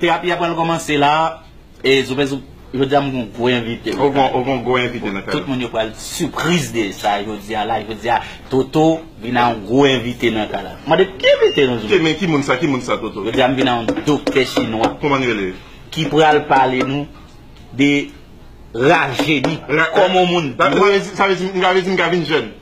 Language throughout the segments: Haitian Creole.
Terapi a pral komanse la e zoupè zoup jodia m gon gwo envite. Ou gon gwo envite nan kay la. Tout moun yo pral sipriz de sa jodia la. Jodia Toto vin a yon gwo envite nan kay la. Mande ki envite nou zoupè. Men ki moun sa, ki moun sa Toto? Jodia m vin a yon doktè chinwa. Kouman li rele? Ki pral pale nou de rajeni. Kòman yon moun dwe. Sa vle di m ka vin jèn?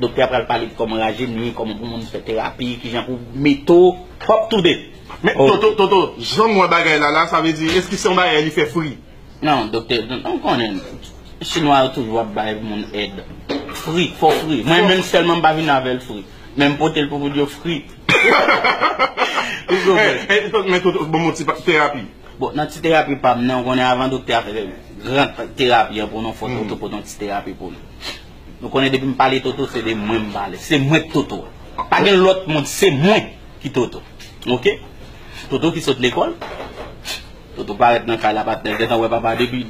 Doktè a pral pale de kòman rajeni, kòman pou moun fè terapi, kijan pou meto pwòp tou de. Men Toto, Toto, janm wè bagay la la, sa vle di eske se yon bagay li fè free? Non doktè, ou konnen chinwa yo toujou ap bay moun èd free, fo free. Mwen menm sèlman m pa vin avèl free, men m potel pou moun yo free. Ou konprann? Men Toto, banm yon ti terapi. Bon, nan ti terapi pam nan, ou konnen avan doktè a fè gran terapi an pou nou, fòk Toto pote yon ti terapi pou nou. Nou konnen depim pale Toto se de mwen m pale se mwen k Toto pa gen lòt moun se mwen ki Toto ok Toto ki sot lekòl Toto parèt nan kay la patnèl gentan wè papa depi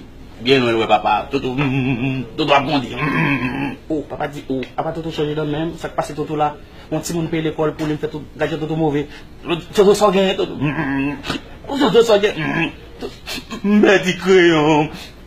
byen lwen l wè papa Toto humm Toto ap grandi humm oh papa di oh apa Toto chanje dan menm sak pase Toto la yon timoun peye lekòl pou li m fè tout gad jan Toto move Toto sa w genyen Toto humm Toto sa w genyen humm Toto m pèdi kreyon m.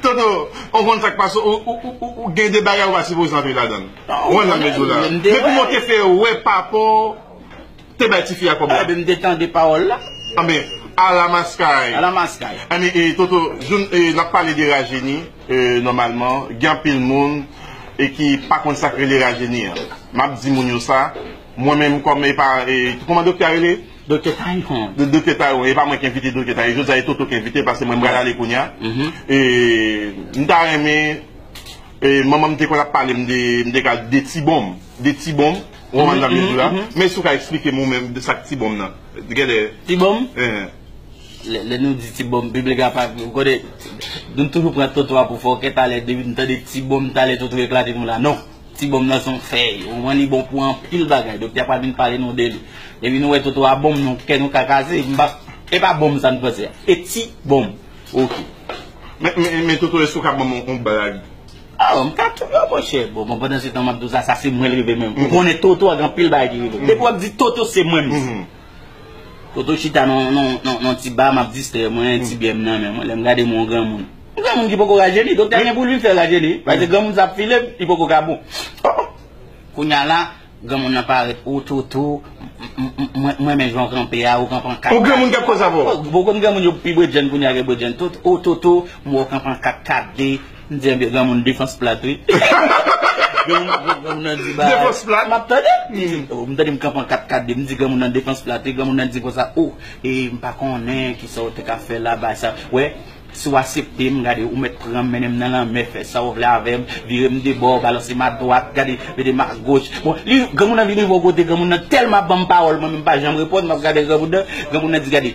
Toto, ou konn sak pase ou ou gen de bagay ou pa sipoze antre ladann. Ou wè nan mezou la. Mwen te wè. Depi mwen te fè wè papa w te bay tifi a kòb la. Epi m te tande pawòl la. Anben, ala maskay. Ala maskay. Anben e Toto, joun e n ap pale de rajeni e nòmalman gen anpil moun e ki pa konn sak rele rajeni an. M ap di moun yo sa. Mwen menm kòm e pa e kòman doktè a rele? Doktè Taïwan. Doktè Taïwan, e pa mwen ki envite Doktè Taïwan, jodi a e Toto ki envite l paske mwen m pral ale kounye a. E m ta renmen e manman m te konn ap pale m de m te ka de ti bonm, de ti bonm, ou konprann sa m vle di w la? Men si w ka eksplike m ou menm de sa k ti bonm nan. Gen lè Ti bonm? Eeh. Lè nou di ti bonm, piblik la pa ou konnen nou toujou pran Toto a pou fòkè, talè depi m tande ti bonm talè Toto eklate m la non. Ti bonm nan son fèy, ou konprann li bon pou anpil bagay, doktè a pral vin pale nou de li. Depi nou wè toto a bonm nou kè nou ka kaze, m pa, e pa bonm sa nou panse a, e ti bonm ok. Men, men toto èske ou ka ban m yon blag? Oh, m ka touye w monchè. Bon, bon pandansetan m ap di w sa, sa se mwen l rive menm. Ou konnen toto a gen anpil bagay ki rive l. Depi w ap di toto se mwen m di. Toto chita nan yon ti ba map distrè mwen, ti byèm nan men mwen, lèm gade mwen yon granmoun. Yon granmoun ki poko rajeni, doktè gen poul vin fèl rajeni wi, paske granmoun sa ap file li poko ka bon. Kounya la, granmoun nan parèt, o Toto, m renmen jan w kanpe a, ou kanpe an 4 4. O granmoun kap konsa avèw. Bon kounn granmoun yo pi bredjenn kounya ke bredjenn Toto, o Toto, m wè w kanpe an 4 4 de. M di anbyen granmoun defans plat wi. Granmoun nan di bagay. Defans plat. Map tande. M tande m kanpe an 4 kade m di granmoun nan defans plat wi. Granmoun nan di konsa oh e m pa konnen kisa w te ka fè la ba sa. Wè si w asepte m gade ou mèt pran m mennen m nan lanmè fè sa w vle avè m. Vire m de bò balanse m a dwat gade mete m a goch. Bon li granmoun nan vin rive yon kote granmoun nan tèlman banm pawòl mwen menm m pa janm reponn map gade granmoun nan. Granmoun nan di gade.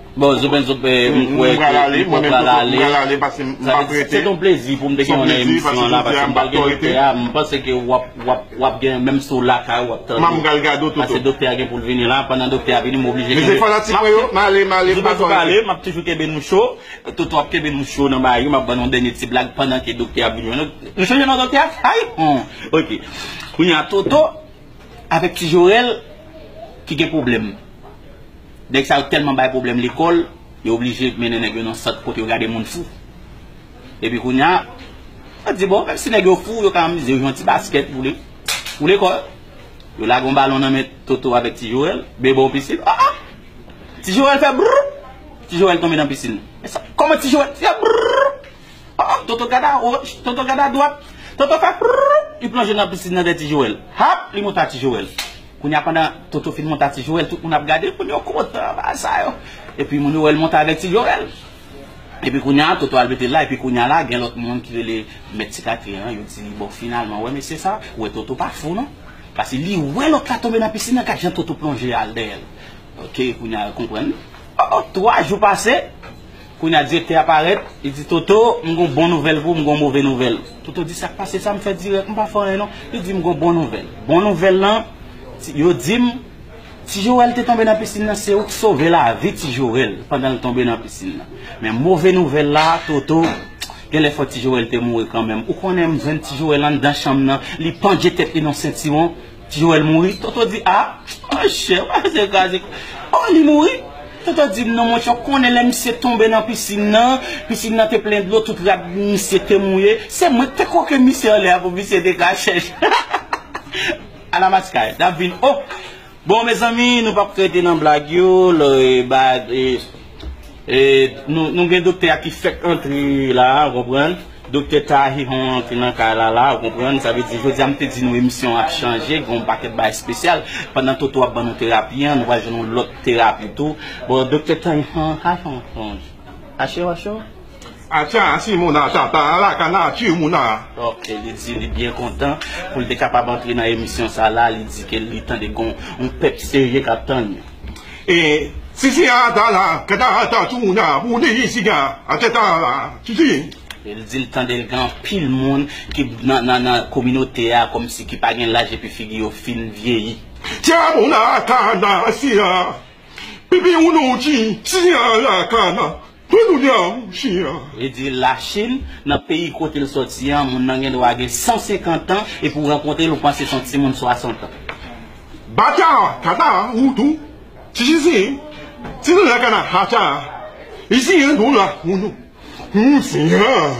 Bon zoben zob m kwè ke mwen pral ale se ton plezi pou m te gen w nan emisyon an la paske m pral gen doktè a m panse ke wap gen menm si w lakay wap tande paske doktè a gen pou l vini la pandan doktè a vini m oblije kenbe zoben zob ale map toujou kenbe nou cho toto ap kenbe nou cho nan bagay yo map ban nou dènye ti blag pandan ke doktè ap vini jwenn nou nou chanje non doktè hay hon ok kounya toto avèk ti jorèl ki gen pwoblèm. Nèg sa yo tèlman bay pwoblèm lekòl, yo oblije mennen nèg yo nan sant kote yo gade moun fou. Epi kounye a, yo di bon, menm si nèg yo fou, yo ka amize yo jwe yon ti baskèt pou lekòl. Yo lage yon balon nan men Toto avèk Ti Jowèl, Beboo nan pisin. A a! Ti Jowèl fè brrr! Ti Jowèl tonbe nan pisin. Men sa, kòman Ti Jowèl fè brrr! A a! Toto gade awoch, Toto gade adwat. Toto fè brrr! Li plonje nan pisin nan dèyè Ti Jowèl. Hap! Li monte a Ti Jowèl. Kounya pandan Toto fin monte a ti Joel tout moun ap gadel moun yo kontan anba sa yo epi moun yo wèl monte avèk ti Joel epi kounya Toto al metel la epi kounya la gen lòt moun ki rele mèt ti katye an yo di li bon finalman ou wè mesye sa ou wè Toto pa fou non paske li wè lòt la tonbe nan pisin an gad jan Toto plonje al dèyèl ok kounya yo konprann oh oh 3 jou pase. Kounye a direktè a parèt, li di Toto, m gen yon bon nouvèl pou ou, m gen yon move nouvèl. Toto di, sa k pase, sa m fè dirèk, m pa fè anyen non. Li di, m gen yon bon nouvèl. Bon nouvèl lan, yo di m, Ti Jorèl te tonbe nan pisin nan, se ou k sove lavi Ti Jorèl pandan l tonbe nan pisin nan. Men move nouvèl la, Toto, gen lè fò Ti Jorèl te mouri kanmenm. Ou konnen m jwenn Ti Jorèl anndan chanm nan, li pandje tèt li nan yon sentiwon. Ti Joel mouri, Toto di a, monchè, pa fè zye kraze kon sa. O, li mouri? Toto di non monchè, ou konnen lè misye tonbe nan pisin nan, pisin nan te plen dlo, tout rad misye te mouye, se mwen ki te kwoke misye anlè a pou misye te ka chèch. Ala maskay, n ap vin, o! Bon mezanmi, nou pa p rete nan blag yo, lò e ba, e. E nou gen doktè a ki fèk antre la a, ou konprann. Doktè Tahi Hon antre nan kay la la a, ou konprann. Sa vle di jodi a m te di nou emisyon an ap chanje, gen yon pakèt bagay espesyal. Pandan Toto ap ban nou terapi an, nou pral jwenn yon lòt terapi tou. Bon, doktè Tahi Hon, Hi Hon, Hon. Acho, acho? Atcha si moun a tata a la ka nature moun a. Ok li di li byen kontan poul te kapab antre nan emisyon sa la li di ke li tande gon yon pèp serye kap tann li. E sisi a ata la ka ta ata tou moun a pou li di siga a tata a la sisi. E li di li tande li gen anpil moun ki nan kominote a komsi ki pa gen laj epi figi yo fin vyeyi. Tcha moun a ka nature pipi ou nou di sisi a la ka nan. Pou kounya m chyen an. Li di l Lachin, nan peyi kote l sòti an, moun nan gendwa gen 150 tan, epi w rankontre l ou panse se yon timoun 60 tan. Bacha, kata, ou tou, ti chizin, ti lala kana, hacha, izi an, dou la, moun, moun, siyan.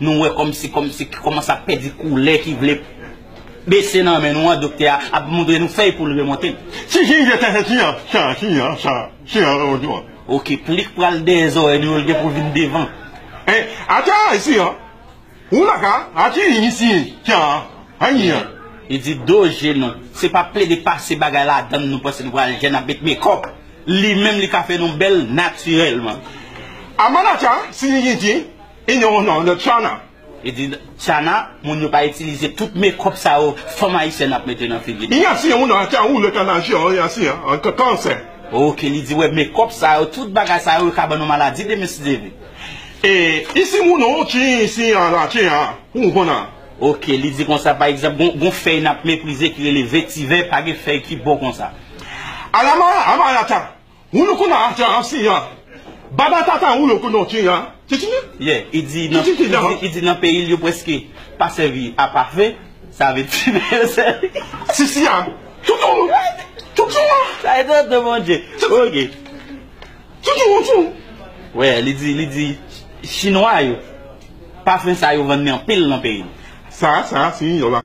Nou wè kòmsi kòmsi ki kòmanse ap pèdi koulè ki vle bese nan men nou an doktè a ap montre nou fèy poul remonte. Si si je tè se si an sa si an sa si an remonte ou an. Ok plik pral dèyè zòrèy nou yo l gen pou vin devan. E atè a si an ou la ka a ti i si sa a i an. Li di do je nou. Se pa plede pase bagay ladann nou panse nou pral jèn ap met mekòp. Li menm li ka fè nou bèl natirèlman. Aman atè a si si si. E non non non tchana. Li di tchana moun yo pa itilize tout mekòp sa yo fanm ayisyèn ap mete nan figi li. Yan si yon nan tan ou le tan nan je an yan si an kan kansè. Ok li di wè mekòp sa yo tout bagay sa yo ka ban nou maladi demen si Dye vle. E isi moun ou ti si an la ti an pou ou konn an. Ok li di konsa pa egzanp gon gon fèy nap meprize ki rele vetivè pa gen fèy ki bon konsa. Alama amarata Ou nou kouna a jan si yan. Baba tata ou nou kouna ou ti yan. Ti ti yan. Ye, i di nan, i di, i di nan peyi l yo preske pa sèvi a pafe, sa vle di men yo sèvi. Si si yan. Ti ti ou. Ti ti yan. Sa e tonton bon Dye. Ok. Ti ti ou ti ou. Wè, li di, li di chinwa yo pafen sa yo vann li anpil nan peyi l. Sa, sa si yo la.